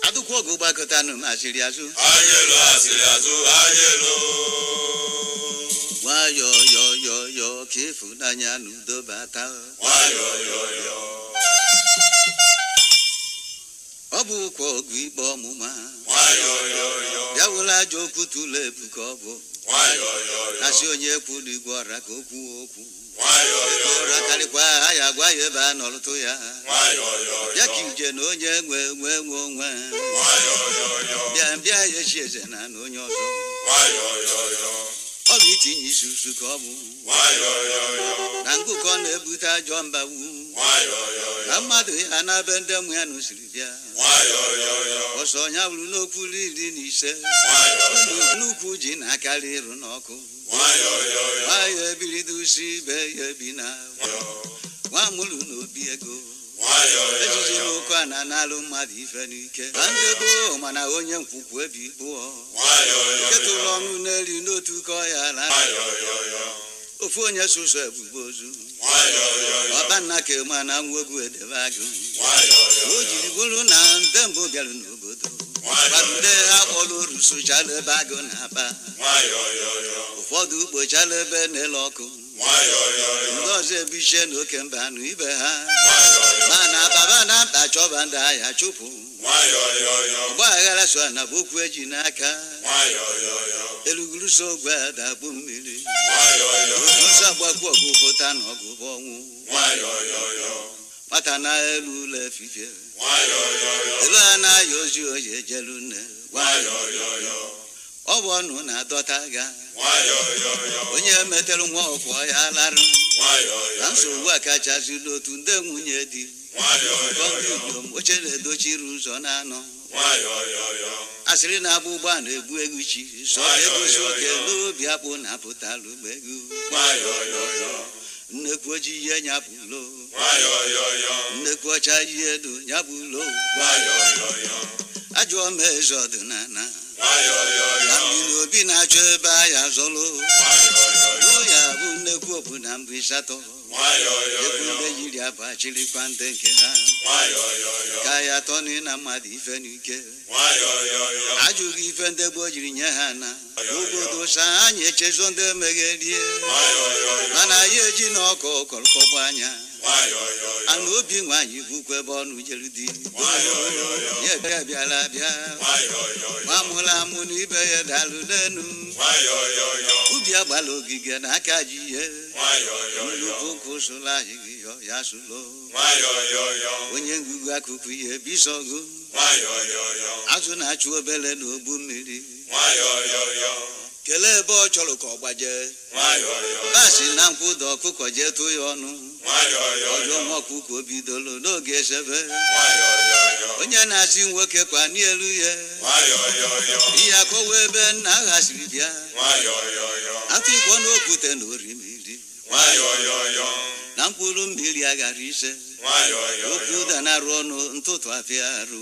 adụkwa ọgụ gbakọta nụ m asịrị azụ Ayelo asịrị azụ ayelo. nwayọ yọ yọ yọ ka ịfụnanya na udo bata Nwayọọ yọọ yọọ. ọ bụkwa ọgụ ikpe ọmụma ya were ajọ okwu tụlụ ebu ka ọ bụ asị onye kwulu gwa ọra ka okwu okwu ọra karịkwa a ya-agwa ya ebe a nọrụtụ ya bịa ka ije na onye nwe nwe nwe onwe bịa bịa ya echi eze na na onye ọzọ ọ bụ itinye isi usu ka ọ bụ na ngụkọ na-ebute ajọ mbawu na mmadụ ya na be ndị mmụ ya na o siri bịa ọsọ ya bụrụ n'okwu iri na ise nnukwu ji na-akarị ịrụ n'ọkụ nwa ya ebilido usi ibe ya ebi na nwa mụrụ n'obi ego ejiji n'oke a na-analụ mmadụ ife n'ike na ndị gboo mana onye nkwukwu ebi kpụọ nke tụrụ ọnụ n'elu n'otu ka ọ ya na ofu onye sụsọ ebube ozu ọkpanna ka ema na nwegwu edebe agụ o jiri bụrụ na ndị mbụ bịara n'obodo gbarude ha kpọrọ oru sụchala ebe agụ na-aba ụfọdụ kpochala ebe na-ele ọkụ ndị ọzọ ebichie na oke mba anụ ibe ha mana baba na mkpa chọba ndị a ya-achụpụ ọgba aghara so na bụ okwu eji n'aka eluguru so ogwe adagbu mmiri o ji ọsọ agbakwu ọgụ pụta na ọgụ bụ ọnwụ nwata na elu ụlọ efifie elu a na-ayọ ozi oyi ejelu nne ọ bụ ọnụ na-adọta agha onye metere nwa ọkụ ya larụ na nsogbu a kachazi n'otu ndị nwunye di ka ọ nọrọ n'oche na-edochiri ụzọ na-anọ asịrị na-agba ụgbọ a na-egbu egwu chi sọ egosi oke n'obi akpụ na-apụtalụ egwu nnekwu ojii yie nya lo nwayọyọyọ nnekwu ọcha yielu ya bụ lo nwayọyọyọ ajụọ m eze ọdịnala nwayọyọyọ na mmiri obi na-achọ ebe a ya zọlụ nwayọyọyọ lo ya bụ nnekwu obu na mbụ ịsatọ ekwu nwayọyọyọ ndị yiri abụ achịrịkwa ndị nke ha nwayọyọyọ ka ya tọnị na mmadụ ife n'ike nwayọyọyọ ajụghị ife ndị gboo jiri nye ha na obodo sa anyị echezo ndị emegherie mana anyị eji na ọkụ kọrọkọgba anya ana obi nwaanyị bụkwa ebe ọnụ jere di ya bịa bịara abịa nwa mụrụ amụ na ibe ya dalụ n'enu ubi agbala ogige na aka ji ya nnukwu ụkwụ sụrụ anyị gị yọ ya sụlo onye ngụgụ akụkụ ihe bisọgụ azụ na-achụ obele n'ogbu mmiri kelee ebe ọ chọrọ ka ọ gbaje basi na nkwụ daa ọkụkọ jee tụ ya ọnụ ọjọ nwa ọkụkọ bidoro n'oge esebe onye na-asị nwoke kwa n'elu ya ihe akọwa ebe nna agha siri bịa atụ ikpọ n'okwute na orimiri na mkpụrụ mmiri aghara ise okwu danarụ ọnụ ntụtụ afịa arụ